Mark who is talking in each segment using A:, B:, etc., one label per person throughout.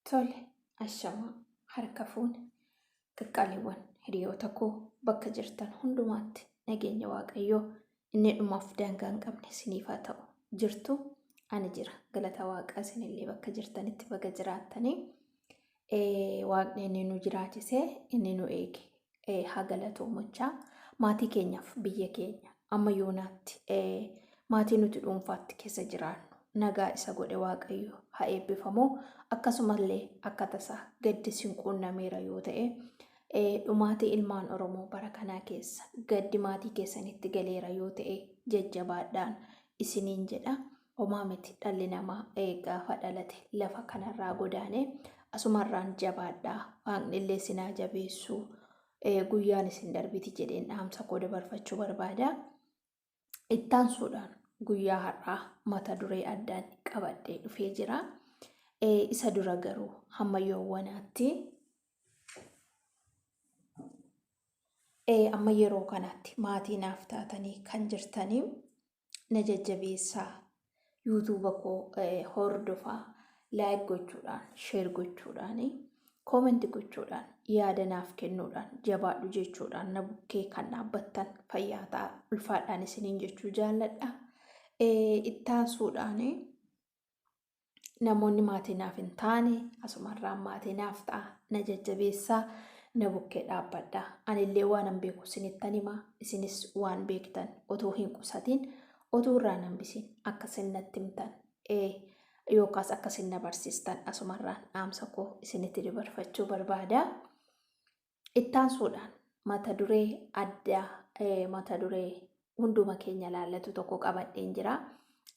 A: Tole, ashamaa, harka fuune. Qaqqaaliiwwan hiriyoota koo bakka jirtan hundumaatti nageenya Waaqayyoo inni dhumaaf daangaa hin qabne isiniif haa ta'u. Jirtu ani jira. Galata Waaqaa isinillee bakka jirtanitti baga jiraattanii. Waaqni inni nu jiraachisee inni nu eege eh, haa galatoomachaa maatii keenyaaf biyya keenya amma yoonaatti eh, maatii nuti dhuunfaatti keessa jiraannu nagaa isa godhe waaqayyo haa eebbifamu akkasumallee akka tasaa gaddi sin quunnameera yoo ta'e eh, dhumaatii ilmaan oromoo bara kanaa keessa gaddi maatii keessanitti galeera yoo ta'e jajjabaadhaan isiniin jedha Homaa miti dhalli namaa gaafa dhalate lafa kanarraa godaane asumarraan jabaadhaa waaqnillee sinaa jabeessuu guyyaan isin darbiti jedheen dhaamsa koo dabarfachuu barbaada. Ittaansuudhaan guyyaa har'aa mata duree addaan qabadhee dhufee jira. Isa dura garuu hamma yoowwanaatti amma yeroo kanatti maatii naaf taatanii kan jirtanii na jajjabeessaa yuutuuba koo hordofaa laayik gochuudhaan sheer gochuudhaan koomenti gochuudhaan yaada naaf kennuudhaan jabaadhu jechuudhaan na bukkee kan dhaabbattan fayyaa ta'a ulfaadhaan isiniin jechuu jaalladha. Ittaansuudhaan namoonni maatii naaf hin taane asumarraan maatii naaf ta'a na jajjabeessaa na bukkee dhaabbadha anillee waan hin beeku isinittan hima isinis waan beektan otoo hin qusatiin otoo irraa hin hambisiin akka isin natti himtan ee yookaas akka isin na barsiistan asumarraan dhaamsa koo isinitti dabarfachuu barbaada. Ittaansuudhaan mata duree adda mata duree hunduma keenya laallatu tokko qabadheen jira.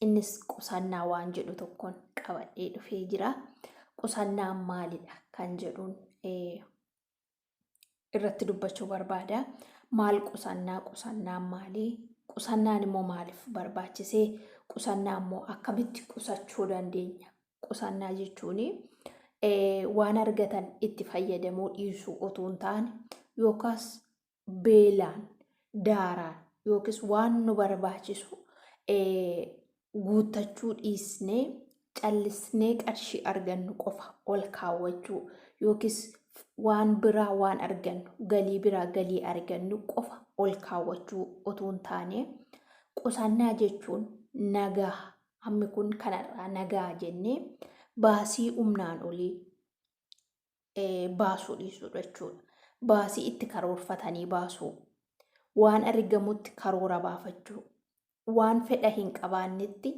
A: Innis qusannaa waan jedhu tokkoon qabadhee dhufee jira. Qusannaa maalidha kan jedhuun irratti dubbachuu barbaada. Maal qusannaa qusannaan maalii? Qusannaan immoo maaliif barbaachisee? Qusannaa immoo akkamitti qusachuu dandeenya? qusannaa jechuun waan argatan itti fayyadamuu dhiisuu otoo hin taane yookaas beelaan daaraan yookiis waan nu barbaachisu guuttachuu dhiisnee callisnee qarshii argannu qofa ol kaawwachuu yookiis waan biraa waan argannu galii biraa galii argannu qofa ol kaawwachuu otoo hin taane qusannaa jechuun nagaa hammi kun kanarraa nagaa jennee baasii humnaan olii baasuu dhiisuudha jechuudha. Baasii itti karoorfatanii baasuu, waan argamutti karoora baafachuu, waan fedha hin qabaannetti,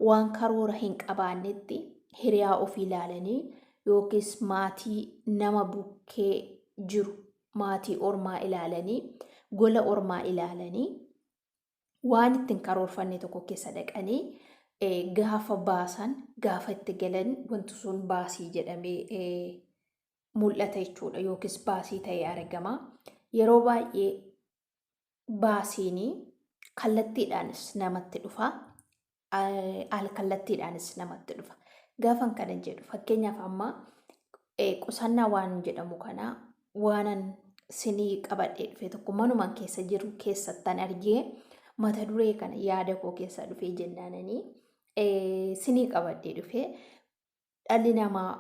A: waan karoora hin qabaannetti hiriyaa ofii ilaalanii yookiis maatii nama bukkee jiru maatii ormaa ilaalanii gola ormaa ilaalanii waan itti hin karoorfanne tokko keessa dhaqanii gaafa baasan gaafa itti galan wanti sun baasii jedhamee mul'ata jechuudha yookiis baasii ta'ee argama. Yeroo baay'ee baasiin kallattiidhaanis namatti dhufa. alkallattiidhaanis namatti dhufa. Gaafan kana jedhu fakkeenyaaf amma qusannaa waan jedhamu kana waanan sinii qabadhee dhufe tokko manuman keessa jiru keessattan argee mata duree kana yaada koo keessa dhufee jennaananii sinii qabadhee dhufe dhalli namaa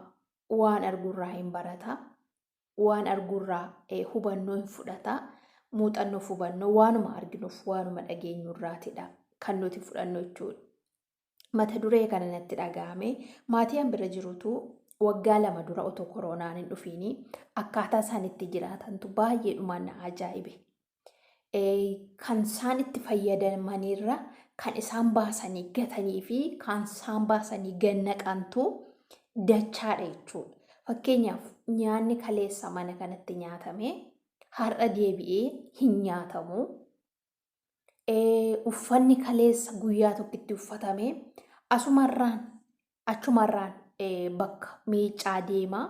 A: waan arguurraa hin barata. waan arguurraa hubannoo hin fudhata. Muuxannoof hubannoo waanuma arginuuf waanuma dhageenyu irraatidha kan nuti fudhannu jechuudha. Mata duree kana natti dhaga'ame maatii an bira jirutu waggaa lama dura otoo koroonaan hin dhufiini akkaataa isaan itti jiraatantu baay'ee dhumaan na ajaa'ibe. kan isaan itti fayyadamanirra kan isaan baasanii gatanii fi kan isaan baasanii gannaqantu dachaadha jechuudha. Fakkeenyaaf nyaanni kaleessa mana kanatti nyaatame har'a deebi'ee hin nyaatamu. Uffanni kaleessa guyyaa tokkotti uffatame asumarraan achumarraan bakka miiccaa deema.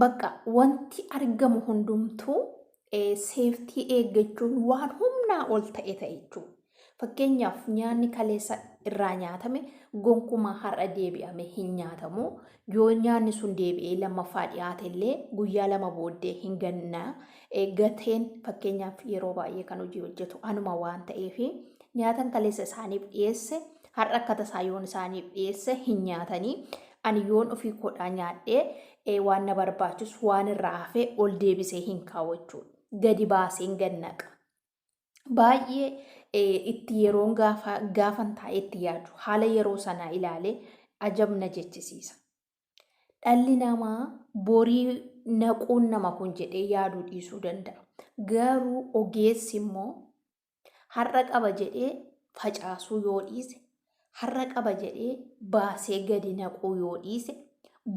A: Bakka wanti argamu hundumtuu seeftii eeggachuun waan humnaa ol ta'e ta'e jechuudha. Fakkeenyaaf nyaanni kaleessa irraa nyaatame gonkumaa har'a deebi'ame hin nyaatamu. Yoo nyaanni sun deebi'ee lammaffaa dhiyaate illee guyyaa lama booddee hin ganna. Gateen fakkeenyaaf yeroo baay'ee kan hojii hojjetu anuma waan ta'eef nyaatan kaleessa isaaniif dhiyeesse har'a akka tasaa yoon isaaniif dhiyeesse hin nyaatanii Ani yoon ofii koodhaa nyaadhee waan na barbaachus waan irraa hafee ol deebisee hin kaa'u jechuudha. Gadi baaseen gad naqa. Baay'ee itti yeroon gaafa gaafan taa'ee itti yaadu haala yeroo sanaa ilaalee ajab na jechisiisa. Dhalli namaa borii naquun nama kun jedhee yaaduu dhiisuu danda'a. Garuu ogeessi immoo Har'a qaba jedhee facaasuu yoo dhiise, har'a qaba jedhee baasee gadi naquu yoo dhiise,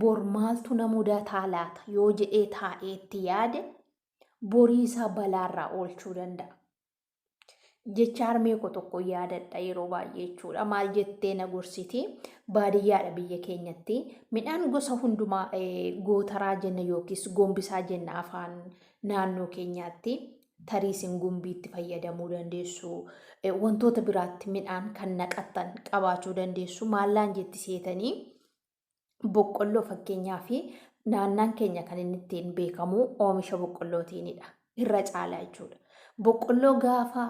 A: bor maaltu na mudataa laata yoo jedhee taa'ee itti yaade, borii isaa balaarraa oolchuu danda'a. Jecha harmee koo tokko yaadadha yeroo baay'ee jechuudha. Maal jettee na gorsiti? Baadiyyaadha biyya keenyatti. Midhaan gosa hundumaa eh, gootaraa jenna yookiis gombisaa jenna afaan naannoo keenyaatti. tarii isin gumbiitti fayyadamuu dandeessu wantoota biraatti midhaan kan naqattan qabaachuu dandeessu maallaan jetti seetanii boqqolloo fakkeenyaa fi naannaan keenya kan inni ittiin beekamu oomisha boqqollootiinidha irra caalaa jechuudha. Boqqolloo gaafa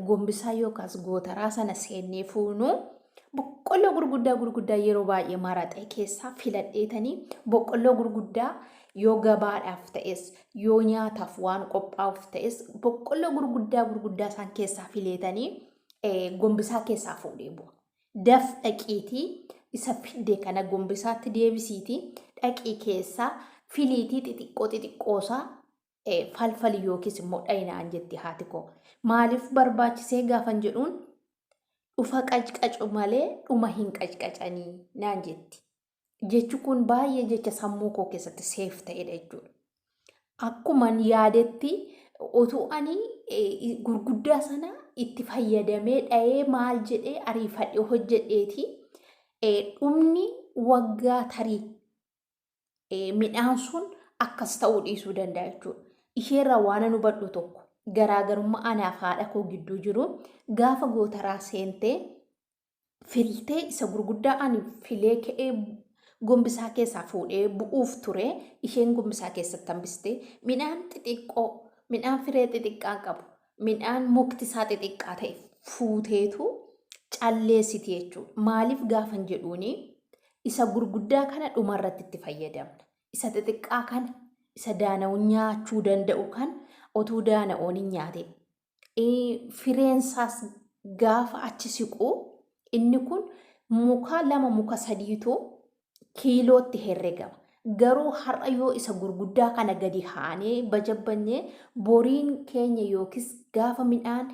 A: gombisaa yookaas gootaraa sana seennee fuunu boqqolloo gurguddaa gurguddaa yeroo baay'ee maraxee keessaa filadheetanii boqqolloo gurguddaa yoo gabaadhaaf ta'es Yoo nyaataaf waan qophaa'uuf ta'es boqqolloo gurguddaa gurguddaa isaan keessaa fileetanii gombisaa keessaa fuudhee bu'a. Daf dhaqiitii isa fidde kana gombisaatti deebisiitii dhaqii keessaa filiitii xixiqqoo xixiqqoosaa falfali yookiis immoo dhayinaan jetti haati koo. Maaliif barbaachisee gaafan jedhuun dhufa qacqacu malee dhuma hin qacqacanii naan jetti. jechi kun baay'ee jecha sammuu koo keessatti seef ta'edha jechuudha. Akkuman yaadetti utuu ani eh, gurguddaa sana itti fayyadamee dha'ee maal jedhee ariifadhe hojjedheeti eh, dhumni waggaa tarii eh, midhaan sun akkas ta'uu dhiisuu danda'a jechuudha. Isheerraa waan an hubadhu tokko garaagarummaa anaaf haadha koo gidduu jiru gaafa gootaraa seentee filtee isa gurguddaa ani filee ka'ee gombisaa keessaa fuudhee bu'uuf ture isheen gombisaa keessatti hambiste midhaan xixiqqoo midhaan firee xixiqqaa qabu midhaan mukti isaa xixiqqaa ta'e fuuteetu calleessiti jechuudha. Maaliif gaafan jedhuuni isa gurguddaa kana dhumarratti itti fayyadamna. Isa xixiqqaa kana isa daana'u nyaachuu danda'u kan otuu daana'oon hin nyaate fireensaas gaafa achi siqu inni kun muka lama muka sadiitu kiilootti herregama. Garuu har'a yoo isa gurguddaa kana gadi haanee bajabbanyee boriin keenya yookiis gaafa midhaan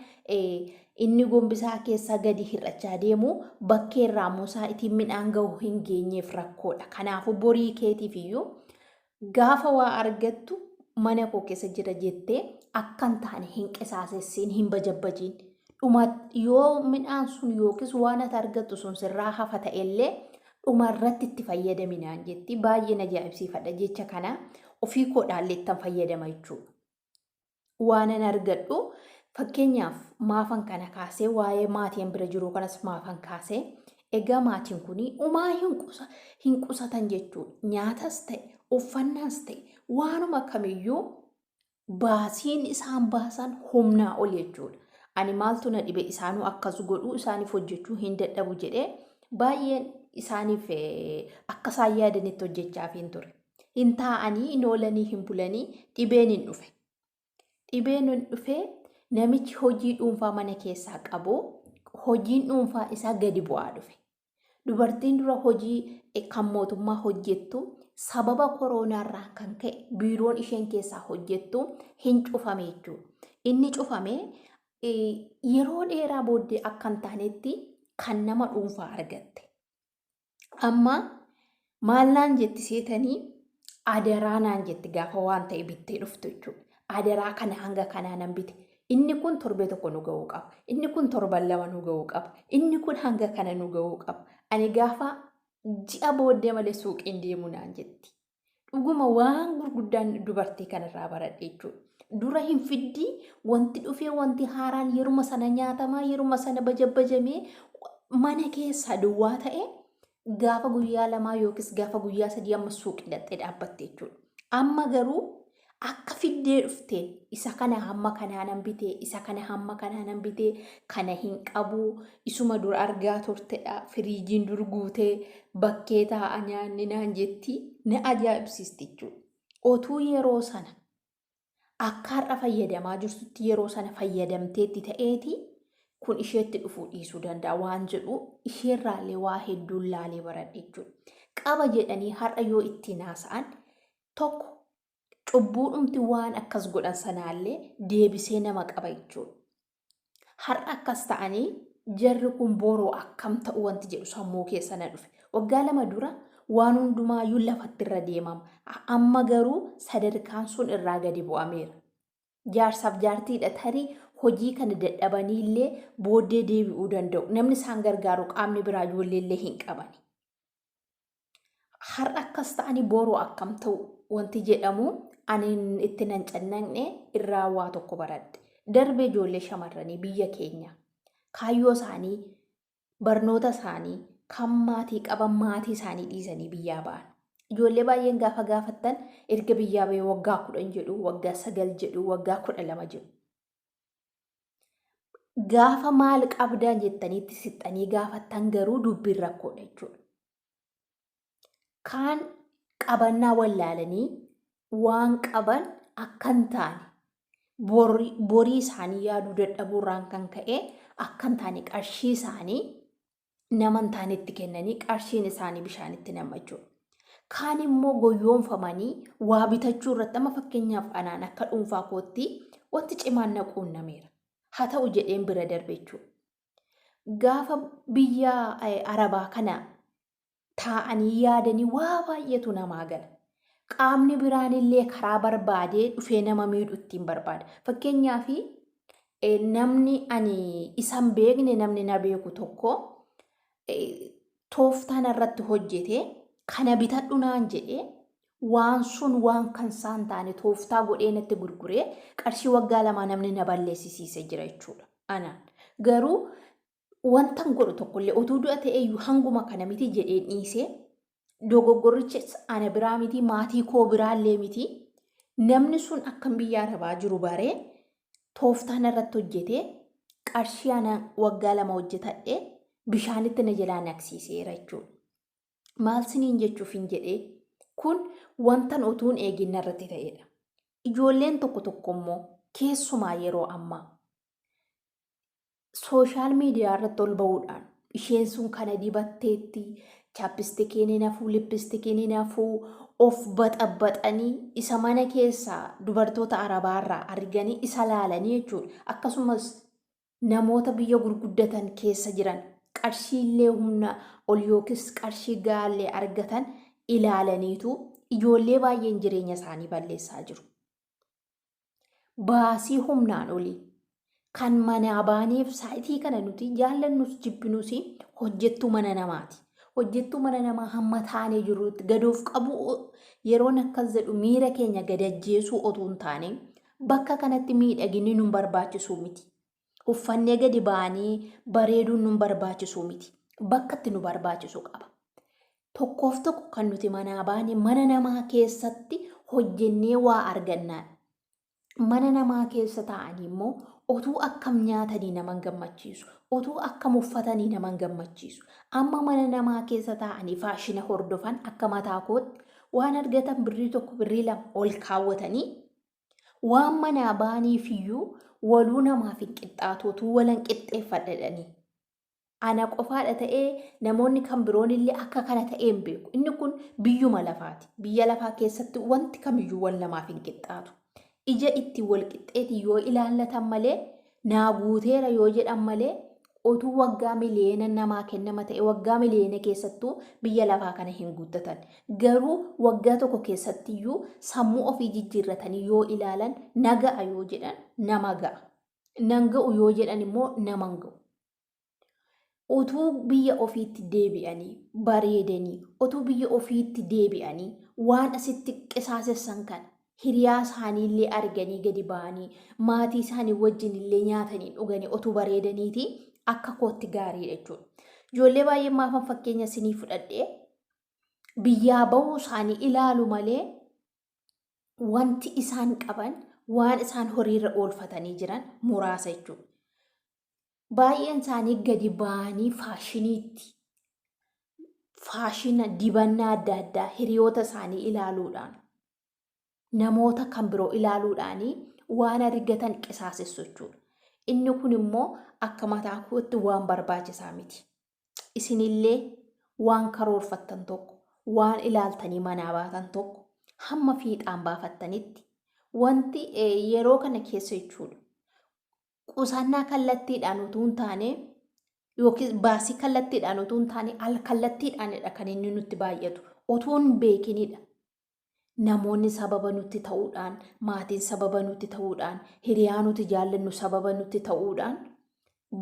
A: inni gombisaa keessaa gadi hir'achaa deemu bakkee irraa musaa ittiin midhaan gahu hin geenyeef rakkoodha. Kanaafuu borii keetiif iyyuu Gaafa waa argattu mana koo keessa jira jettee akka hin taane hin qisaasessiin, hin bajabbajiin. Dhuma yoo midhaan sun yookiis waan ati argattu sun sirraa hafa ta'ellee dhuma irratti itti fayyadami naan jetti. Baay'een ajaa'ibsiifadha jecha kana ofii koo dhaalleettan fayyadama jechuudha. waanan argadhu fakkeenyaaf maafan kana kaasee waa'ee maatiin bira jiruu kanas maafan kaasee egaa maatiin kun umaa hin qusatan jechuudha. Nyaatas ta'e uffannaas ta'e waanuma kamiyyuu baasiin isaan baasan humnaa ol jechuudha. Ani maaltu na dhibe isaanuu akkas godhuu isaaniif hojjechuu hin dadhabu jedhee baay'een isaaniif akka isaan yaadanitti hojjechaa hin ture. hin taa'anii hin oolanii hin bulanii dhibeen hin dhufe. Dhibeen hin dhufe namichi hojii dhuunfaa mana keessaa qabu hojiin dhuunfaa isaa gadi bu'aa dhufe. Dubartiin dura hojii kan mootummaa hojjettu sababa koronaarraa kan ka'e biiroon isheen keessaa hojjettu hin cufame jechuudha. Inni cufame yeroo dheeraa booddee akka hin taanetti kan nama dhuunfaa argatte. Amma maal naan jetti seetanii adaraa naan jetti gaafa waan ta'e bittee dhuftu jechuudha. Adaraa kana hanga kanaa nan bite. Inni kun torbee tokko nu ga'uu qaba. Inni kun torban lama nu ga'uu qaba. Inni kun hanga kana nu ga'uu qaba. Ani gaafa ji'a booddee malee suuqiin deemu naan jetti. Dhuguma waan gurguddaan dubartii kanarraa baradhe jechuudha. Dura hin fiddii wanti dhufee wanti haaraan yeruma sana nyaatamaa yeruma sana bajabajamee mana keessaa duwwaa ta'e gaafa guyyaa lamaa yookiis gaafa guyyaa sadii amma suuqii dhaxxee dhaabbatte jechuudha. Amma garuu akka fiddee dhufte isa kana hamma kanaanan bite isa kana hamma kanaanan bite kana hin qabu isuma dur argaa turtedha firiijiin dur guutee bakkee taa'a nyaanni naan jetti na ajaa'ibsiisti jechuudha. Otuu yeroo sana akka har'a fayyadamaa jirtutti yeroo sana fayyadamteetti ta'eeti kun isheetti dhufuu dhiisuu danda'a waan jedhu isheerraallee waa hedduun laalee baradhe jechuudha. Qaba jedhanii har'a yoo ittiin haasa'an Tokko cubbuudhumti waan akkas godhan sanaallee deebisee nama qaba jechuudha. Har'a akkas ta'anii jarri kun boroo akkam ta'u wanti jedhu sammuu keessa na dhufe. Waggaa lama dura waan hundumaayyuu lafatti irra deemama. Amma garuu sadarkaan sun irraa gadi bu'ameera. Jaarsaaf jaartiidha tarii hojii kana dadhabanii illee booddee deebi'uu danda'u. Namni isaan gargaaru qaamni biraa ijoollee illee hin qabani. har'a akkas ta'anii boru akkam ta'u wanti jedhamu ani itti nan cannaqne irraa waa tokko baradhe. Darbee ijoollee shamarranii biyya keenya kaayyoo isaanii barnoota isaanii kan maatii qaban maatii isaanii dhiisanii biyyaa ba'an. Ijoollee baay'een gaafa gaafattan erga biyyaa ba'ee waggaa kudhan jedhu waggaa sagal jedhu waggaa kudha lama jedhu. Gaafa maal qabdaa jettaniitti sixxanii gaafattan garuu dubbiin rakkoodha jechuudha. Kaan qabannaa wallaalanii waan qaban akka hin taane borri- borii isaanii yaaduu dadhabuurraan kan ka'e akka hin taane qarshii isaanii nama hin taanetti kennanii qarshiin isaanii bishaanitti nama jechuudha. Kaan immoo goyyoomfamanii waa bitachuu irratti amma fakkeenyaaf anaan akka dhuunfaa kootti wanti cimaan na quunnameera. Haa ta'u jedheen bira darbe jechuudha. Gaafa biyya eh, arabaa kana taa'anii yaadanii waa baay'eetu namaa gala. Qaamni biraan illee karaa barbaadee dhufee nama miidhu ittiin barbaada. Fakkeenyaaf namni ani isan beekne namni na beeku tokko tooftaan irratti hojjete kana bitadhu naan jedhe waan sun waan kan isaan taane tooftaa godhee natti gurguree qarshii waggaa lamaa namni na balleessisiise jira jechuudha. Anaan garuu wantan godhu tokkollee otuu du'a ta'eeyyuu hanguma kana miti jedheen dhiisee dogoggorrichis ana biraa miti maatii koo biraallee miti namni sun akkan biyya arabaa jiru baree tooftaan irratti hojjetee qarshii ana waggaa lama hojjetadhe bishaanitti na jalaa naqsiiseera jechuudha. Maal siniin jechuuf hin jedhee kun wantan otuun eegin irratti ta'edha. Ijoolleen tokko tokko immoo keessumaa yeroo ammaa sooshaal miidiyaa irratti ol ba'uudhaan isheen sun kana dibatteetti chaapistikiin hin hafuu lippistikiin hin hafuu of baxabaxanii isa mana keessaa dubartoota arabaa irraa arganii isa laalanii jechuudha akkasumas namoota biyya gurguddatan keessa jiran qarshiillee humna ol yookiis qarshii gaallee argatan ilaalaniitu ijoollee baay'een jireenya isaanii balleessaa jiru. baasii humnaan olii kan manaa baaneef saayitii kana nuti jaallannus jibbinus hojjettuu mana namaati. Hojjettuu mana namaa hamma taanee jirrutti gadoof qabu yeroon akkas jedhu miira keenya gadajjeesuu otoo hin taane bakka kanatti miidhaginni nun barbaachisuu miti. uffannee gadi ba'anii bareeduun nun barbaachisuu miti. Bakka itti nu barbaachisu qaba. Tokkoof tokko kan nuti manaa baane mana namaa keessatti hojjennee waa argannaan. Mana namaa keessa taa'anii immoo otuu akkam nyaatanii nama hin gammachiisu. Otuu akkam uffatanii nama hin gammachiisu. Amma mana namaa keessa taa'anii faashina hordofan akka mataa kootti waan argatan birrii tokko birrii lama ol kaawwatanii Waan manaa baaniifiyyuu waluu namaaf hin qixxaatu utuu walan qixxeeffadha jedhanii. Ana qofaadha ta'ee namoonni kan biroon illee akka kana ta'ee hin beeku. Inni kun biyyuma lafaati. Biyya lafaa keessatti wanti kamiyyuu wal namaaf hin qixxaatu. Ija itti wal qixxeeti yoo ilaallatan malee naa guuteera yoo jedhan malee otuu waggaa miliyeena namaa kennama ta'e waggaa miliyeena keessattuu biyya lafaa kana hin guuttatan. Garuu waggaa tokko keessattiyyuu sammuu ofii jijjiirratanii yoo ilaalan na ga'a yoo jedhan nama ga'a. Nan ga'u yoo jedhan immoo nama hin ga'u. utuu biyya ofiitti deebi'anii bareedanii utuu biyya ofiitti deebi'anii waan asitti qisaasessan kana hiriyaa isaanii illee arganii gadi ba'anii maatii isaanii wajjin illee nyaatanii dhuganii utuu bareedaniiti akka kootti gaariidha jechuudha. Ijoollee baay'ee maafan fakkeenya isinii fudhadhee biyyaa bahuu isaanii ilaalu malee wanti isaan qaban waan isaan horiirra oolfatanii jiran muraasa jechuudha. baay'een isaanii gadi ba'anii faashiniitti faashina dibannaa adda addaa hiriyoota isaanii ilaaluudhaan namoota kan biroo ilaaluudhaanii waan argatan qisaasessu jechuudha. Inni kun immoo akka mataa kootti waan barbaachisaa miti. Isinillee waan karoorfattan tokko, waan ilaaltanii manaa baatan tokko hamma fiixaan baafattanitti wanti yeroo kana keessa jechuudha. qusannaa kallattiidhaan utuu hin taane yookiin baasii kallattiidhaan utuu hin taane al kallattiidhaanidha kan inni nutti baay'atu utuu hin beekinidha. Namoonni sababa nutti ta'uudhaan, maatiin sababa nutti ta'uudhaan, hiriyaa nuti jaallannu sababa nutti ta'uudhaan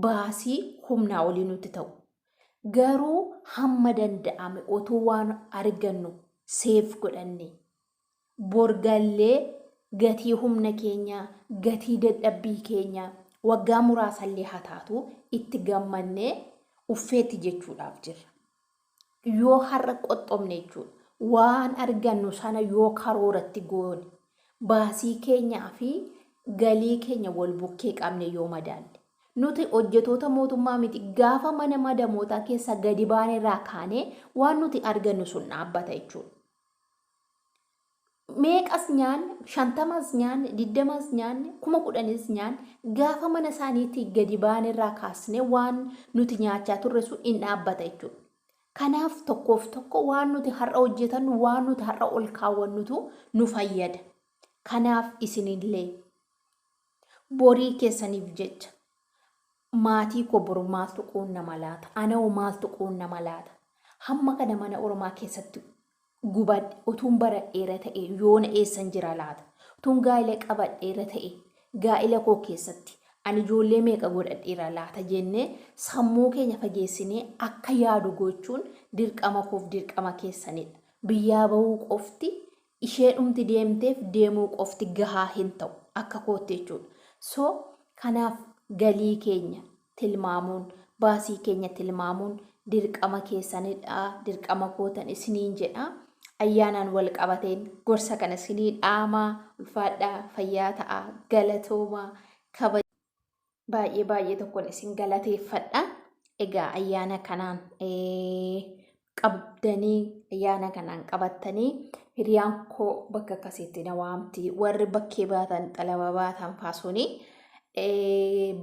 A: baasii humnaa olii nutti ta'u. Garuu hamma danda'ame utuu waan argannu seef godhanne Bor gallee gatii humna keenyaa, gatii dadhabbii keenyaa, waggaa muraasallee haa taatu itti gammannee uffeetti jechuudhaaf jirra. Yoo har'a qoxxomne jechuudha. Waan argannu sana yoo karooratti goone, baasii keenyaa fi galii keenya wal bukkee qabne yoo madaalle. Nuti hojjetoota mootummaa miti. Gaafa mana madamootaa keessaa gadi baanerraa kaanee waan nuti argannu sun dhaabbata jechuudha. meeqas nyaanne shantamas nyaanne digdamas nyaanne kuma kudhanis nyaanne gaafa mana isaaniitti gadi baane irraa kaasne waan nuti nyaachaa turre sun in dhaabbata jechuudha. Kanaaf tokkoof tokko waan nuti har'a hojjetannu waan nuti har'a ol kaawwannutu nu fayyada. Kanaaf isinillee borii keessaniif jecha Maatii koo boru maaltu quunnama laata? Anahoo maaltu quunnama laata? Hamma kana mana ormaa keessatti gubadhe utuun baradheera ta'e yoona eessan jira laata? Utuun gaa'ila qabadheera ta'e gaa'ila koo keessatti ani ijoollee meeqa godhadheera laata jennee sammuu keenya fageessinee akka yaadu gochuun dirqama koof dirqama keessanidha. Biyyaa bahuu qofti Isheedhumti deemteef deemuu qofti gahaa hin ta'u akka kootti jechuudha. So kanaaf galii keenya tilmaamuun, baasii keenya tilmaamuun dirqama keessanidha, dirqama kootan isiniin jedha. Ayyaanaan wal qabateen gorsa kana isinii dhaamaa ulfaadhaa fayyaa ta'aa galatoomaa kabaja. Baay'ee baay'ee tokkon isin galateeffadha. Egaa ayyaana kanaan qabdanii ayyaana kanaan qabattanii hiriyaan koo bakka akkasiitti na waamti warri bakkee baatan xalaba baatan faasuni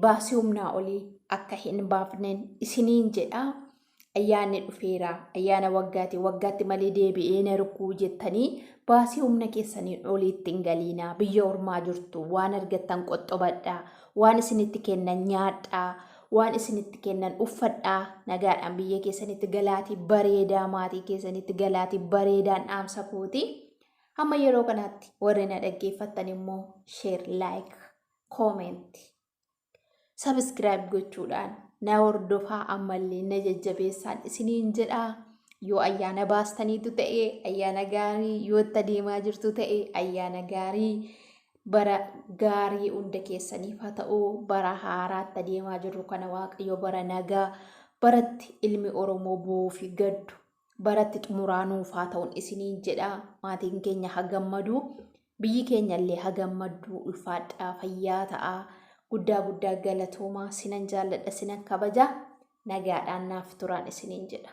A: baasii humnaa olii akka hin baafneen isiniin jedha ayyaanni dhufeera ayyaana waggaati waggaatti malee deebi'ee na rukkuu jettanii baasii humna keessaniin oliitti hin galiinaa biyya ormaa jirtu waan argattan qoxxobadhaa waan isinitti kennan nyaadhaa waan isinitti kennan uffadhaa nagaadhaan biyya keessanitti galaatii bareedaa maatii keessanitti galaatii bareedaan dhaamsa kooti hamma yeroo kanaatti warri na dhaggeeffattan immoo sheer laayik koomeenti sabiskiraayib gochuudhaan na hordofaa ammallee na jajjabeessaan isiniin jedhaa yoo ayyaana baastaniitu ta'e ayyaana gaarii yoo itti adeemaa jirtu ta'e ayyaana gaarii bara gaarii hunda keessaniif haa ta'u bara haaraatti adeemaa jirru kana waaqayyo bara nagaa baratti ilmi oromoo bu'uu fi gaddu baratti xumuraa nuuf haa ta'un isiniin jedha maatiin keenya ha gammadu biyyi keenya illee ha gammaddu ulfaadhaa fayyaa ta'a guddaa guddaa galatooma sinan jaalladha sinan kabaja nagaadhaan naaf turaan isiniin jedha.